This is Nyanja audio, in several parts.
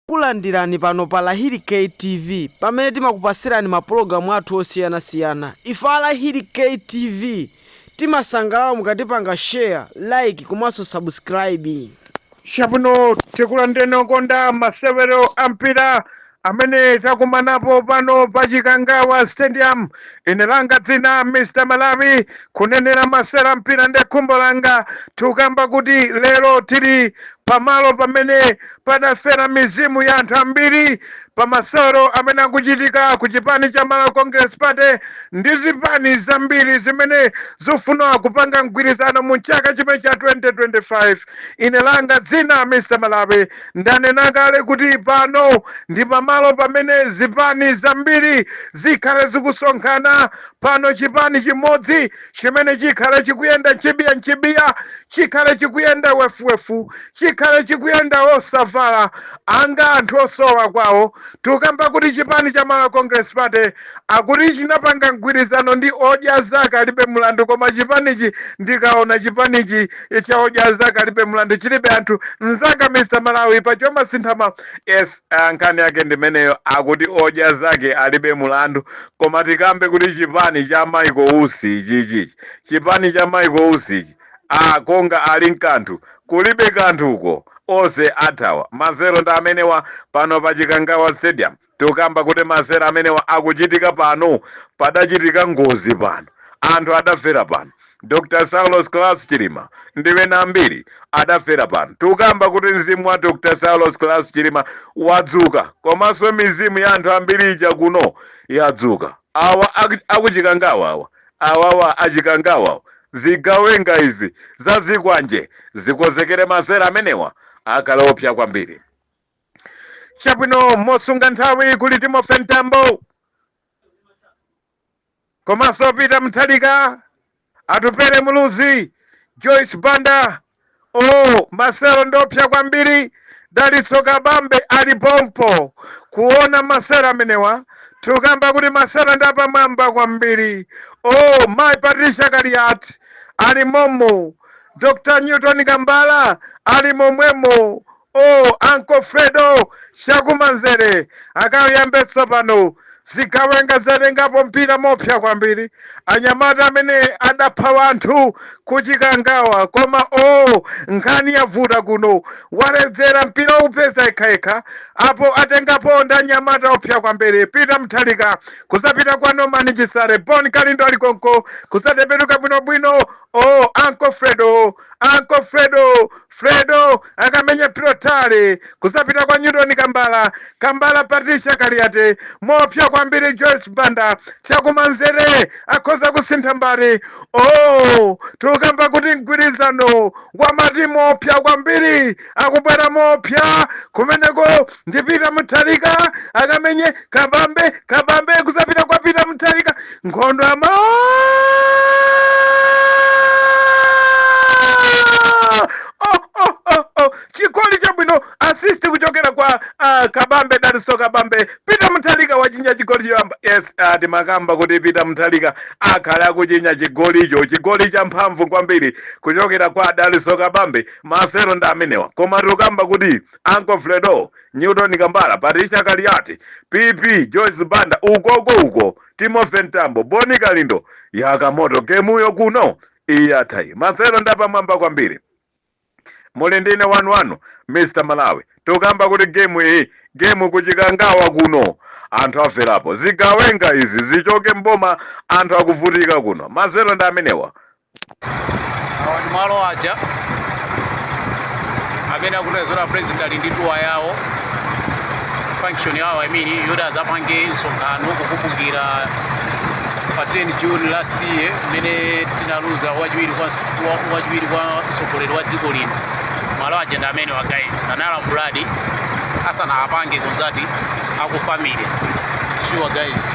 Takulandirani pano pa Lahiri K TV pamene timakupatsirani ma pologalamu athu osiyanasiyana. Ife a Lahiri K TV timasangalala mukatipanga share, like komanso subscribe. Chabwino tikulandireni okonda masewero a mpira amene takumanapo pano pa Chikangawa Stadium. Ine langa dzina Mr Malawi kunenera masewero a mpira ndi khumbo langa tikukamba kuti lero tili pamalo pamene Padafera mizimu ya anthu ambiri pa masewero amene akuchitika ku chipani cha Malawi Congress Party ndi zipani zambiri zimene zikufuna kupanga mgwirizano mu chaka chimenechi cha 2025. Ine langa dzina Mr. Malawi. Ndanena kale kuti pano ndi pamalo pamene zipani zambiri zikhale zikusonkhana. Pano chipani chimodzi chimene chikhale chikuyenda nchibiya nchibiya chikhale chikuyenda wefuwefu chikhale chikuyenda osavala anga anthu osowa kwawo tukamba kuti chipani cha Malawi Congress Party akuti chinapanga mgwirizano ndi odya zake alibe mlandu koma chipanichi ndikaona chipanichi cha odya zake alibe mlandu chilibe anthu nzanga mr malawi Pachoma sinthama yes ah, nkhani yake ndimeneyo akuti odya zake alibe mlandu Koma tikambe kuti chipani cha Michael Usi ichichi ichi chipani cha Michael Usi ichi a konga alinkanthu kulibe kanthu uko onse athawa masewero ndi amenewa pano pa Chikangawa stadium tukamba kuti masewero amenewa akuchitika pano padachitika ngozi pano anthu adafera pano Dr Saulos Klaus Chilima ndi ena ambiri adafera pano. Tikukamba kuti mzimu wa Dr Saulos Klaus Chilima wadzuka komanso mizimu ya anthu ambiri ija kuno yadzuka. Awa akuchikangawa awa awawa achikangawa zigawenga izi za zikwanje zikonzekere masewero amenewa akhale oopsa kwambiri. Chabwino mosunga nthawi kuli Timothy Mtambo. komanso Peter Mutharika, Atupele Muluzi, Joyce Banda, o masewero ndoopsa kwambiri, Dalitso Kabambe ali pompo kuona masewero amenewa tukamba kuti masewero ndi apamwamba kwambiri. o Mai Patricia Kaliati ali momo, Dr Newton Kambala ali momwemo, Oh, Uncle Fredo, chakumanzere akayambitse pano zigawenga zatengapo mpira moopsa kwambiri anyamata amene adapha wanthu ku Chikangawa koma o oh, nkhani yavuta kuno waledzera mpira upeza yekhayekha apo atengapo ndi anyamata oopsa kwambiri Peter Mutharika kuzapita kwa Norman Chisale Bon Kalindo ali konko kuzatembenuka bwinobwino o oh, Uncle Fredo Uncle Fredo Fredo akamenya Pilotale kuzapita kwa Newton Kambala, Kambala Patricia Kaliati, moopsa kwambiri Joyce Banda chakumanzere akhoza kusintha mbali. Oh, tikukamba kuti mgwirizano wa matimu oopsa kwambiri akubwera moopsa kumeneko ndi peter mutharika akamenye kabambe kabambe kuzapita kwa peter mutharika nkhondo ya ma Oh, oh, oh, oh. chigoli chabwino assist kuchokera kwa uh, kabambe dalitso kabambe peter mutharika wachinya chigoli choyamba yes uh, timakamba kuti peter mutharika akhale akuchinya chigolicho chigoli cha mphamvu kwambiri kuchokera kwa dalitso kabambe masewero ndi amenewa koma tikukamba kuti Uncle Fredo, Newton Kambala, Patricia Kaliati, PP, Joyce Banda, ukoko uko, Timothy Mtambo, Bon Kalindo, yaka moto gemuyo kuno iyatai masewero ndapamwamba kwambiri muli ndine wanu wanu mr malawi tukamba kuti gemu iyi gemu ku chikangawa kuno anthu aferapo zigawenga izi zichoke mboma anthu akuvutika kuno masewero ndi amenewa awa ndi malo aja amene akuti azola president ali ndi tour yawo function yawo i mean yoti azapange msonkhano kukumbukira pa 10 june last year mmene tinaluza wachiwiri kwa msu- wa- wachiwiri kwa mtsogoleri wa dziko lino malo aja ndi amene wa guys analambuladi asanawapange consult aku family sure guys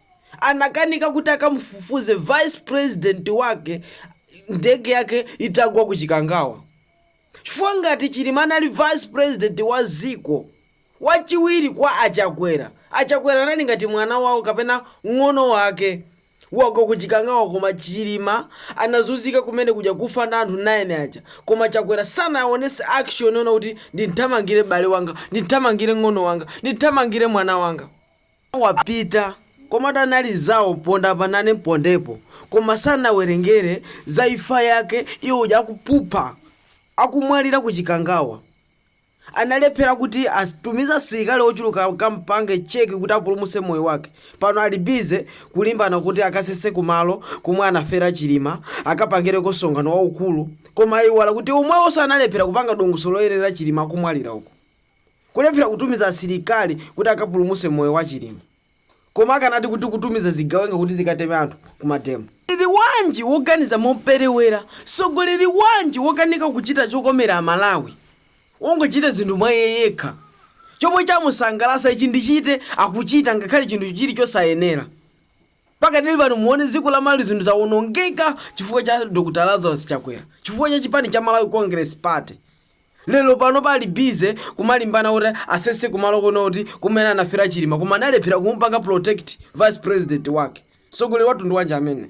anakanika kuti akamufufuze vice president wake ndege yake itagwa ku chikangawa chifukwa ngati chilima anali vice president wa ziko wachiwiri kwa achakwera achakwera anali ngati mwana wawo kapena ng'ono wake wagwa ku chikangawa koma chilima anazunzika kumene kuja kufa ndi anthu 9 aja koma chakwera sanaonese action yoona kuti ndinthamangire bale wanga ndinthamangire ng'ono wanga ndinthamangire mwana wanga wapita komatu anali zawo ponda apa nane mpondepo koma sanawerengere za ifa yake iye uja akuphupha akumwalira ku chikangawa analephera kuti atumize asilikali ochuluka akampange check kuti apulumuse moyo wake pano ali busy kulimbana kuti akasese kumalo komwe anafera chilima akapangireko msonkhano waukulu koma ayiwala kuti omwewoso analephera kupanga dongosolo loyenera chilima akumwalira uko kulephera kutumiza asilikali kuti akapulumutse moyo wa chilima koma akanati kuti kutumiza zigawenga kuti zikateme anthu kumademo Mtsogoleri wanji woganiza moperewera? Mtsogoleri wanji wokanika kuchita chokomera Amalawi? Wongochita zinthu mwa iye yekha. Chomwe chamusangalatsa ichi ndichite akuchita ngakhale chinthu chili chosayenera. Pakadali pano muone dziko la Malawi zinthu zawonongeka chifukwa cha Dr. Lazarus Chakwera, chifukwa cha chipani cha Malawi Congress Party. lero pano ali bize kumalimbana kuti asese kumalo kuno kuti kumene anafera chilima koma analephera kumupanga protect vice president wake mtsogoleri wamtundu wanji amene